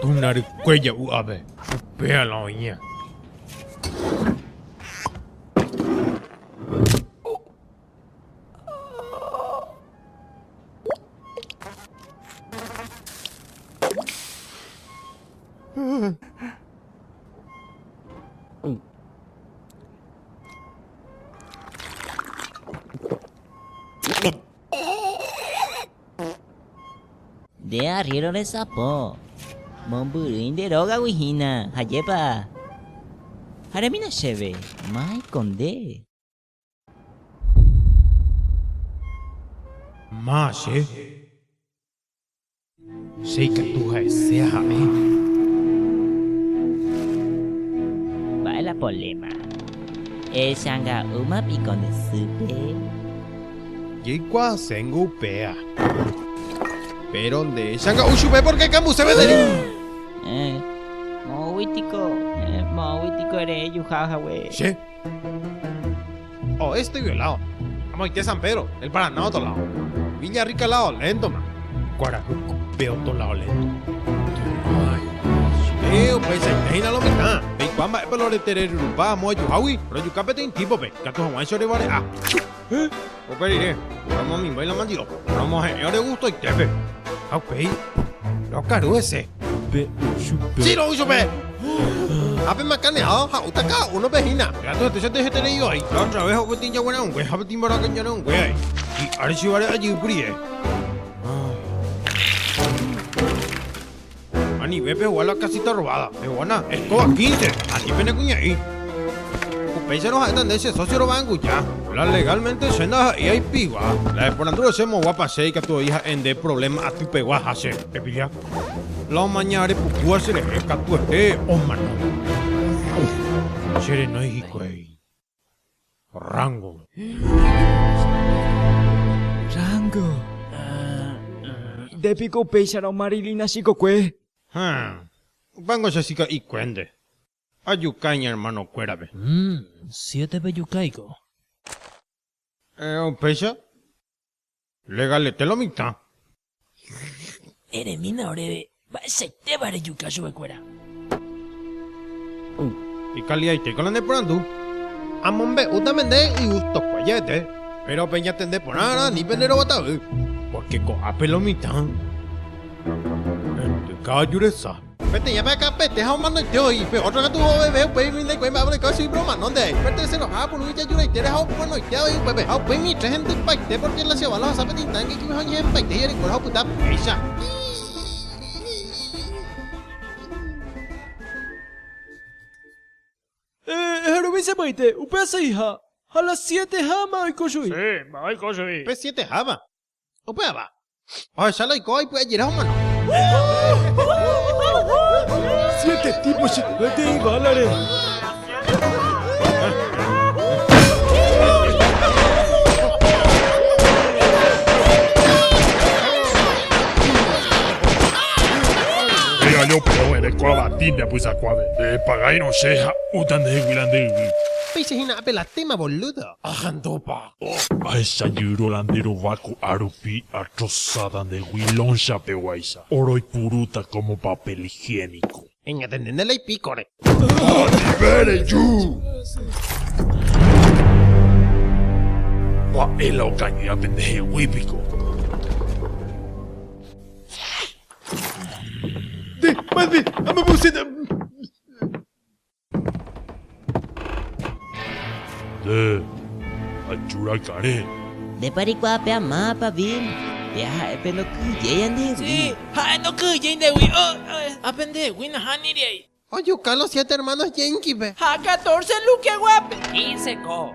Tuna rykue ja'u ave, upéa la oĩa. Oh. Nde arriéro resapo, mombyrýi nde rógagui hína, hajépa? Ha remína chéve, máiko nde. Ma che, che ikatu ha'ese aha'e. Mba'e la poléma? Echanga'úma piko nde sýpe? Jeikuaaséngo upéva. Péro nde changa'u chupe pórke kambuse vederi. Héẽ, moõgui piko, héẽ, moõgui piko ere ejuha hague. Che. Oeste estoy violado. Amoite San Pedro, el Paraná otro lado. Villa Rica al lado, lento más. Kuarahy kupe otro lado lento. Che, upeichaite hína lo mitã. Peikuaa mba'épa lo retereryrupa amo ajuhágui, rojuka peteĩ típope, ikatu hag̃uáicha orevare'a. Héẽ, upe rire, romomimbai la mandiropa. Romohe'ẽ ore gustoitépe. Ha upéi, rokaru hese. Pe chupe. Sí, ro'y chupe. Ha pe makane'áva ha'úta káda únope hína. Gato hete chete hete rei vai. La otra vez ope tĩja gueraungue ha pe tĩmbaraka ñereungue vai. Hi'áre chivare ajýkuri rire. Anive pegua la casita robada. Pegua na escoba quince. Ani pene kuña'i. Upéicharõ ha'éta nde che socio rova'ãnguja. La legalmente che ndaha'éi aipigua. La eporandu rese moguapa che ikatu oĩ ha'e nde problema atypegua ha che. Epilla. La omaña are pukúva cherehe katuete omano. Che renói hikuái. Rango. Rango. Nde piko upéicharõ Marilina chikokue? Haa. Upéngo che chika'ikuénte. Ajuka iñermanokuérape. Mmm, siete pejukáiko. Upéicha Legalete lo mitã. Eremína oréve mba'eichaitéva rejuka chupekuéra. Ikaliaitéiko la neporandu. Amombe'útame nde igustokuaa ja'ete, péro peñatende porã rã ni pende roguatavy, pórke ko'ápe lo mitã. Endyka aju resa. Peteĩ apyakapete ha omanoite oĩ, pe ótro katu ovevé upéi umi ndaikuái mba'e orekóva chugui, pe omanónte aĩ. Pe terseroha apuru ijajuraitére ha omanoite avei upépe, ha upéi mitã hendypaite, pórke la cheval ohasa pe tintánke ikyve ha oñehenpaite hi'arekuéra ha opyta péicha. Eherovi che moĩte, upe aseiha, ha la siete háma oiko chugui. Che, mba'e oiko chugui. Pe siete háma. Upéva, ohecha la oikóva ipy'ajere omano. Siete típo chika'ete iválare. Péicha hína ape la téma, bolúdo. Ajandupa. Ahecha jyro la nde rova ko'a rupi atrosáta nde gui loncha peguáicha, oroipurúta kómo papel higiénico. Eñatende nde leipi kore. Anive reju! Mba'e la okañýa pende hegui piko? Nde, mande, amomosẽta! Nde ajurakãre. Ndépa reikuaa pe amápa, Bill. Pe aha'e pe ndoky'yéi andehegui. Sí, ha'e ndoky'yéi ndegui. Ha pe ndehegui nahániriai. Ojuka los siete hermanos Jenkipe. Ha catorce Lukeguápe. Quince ko.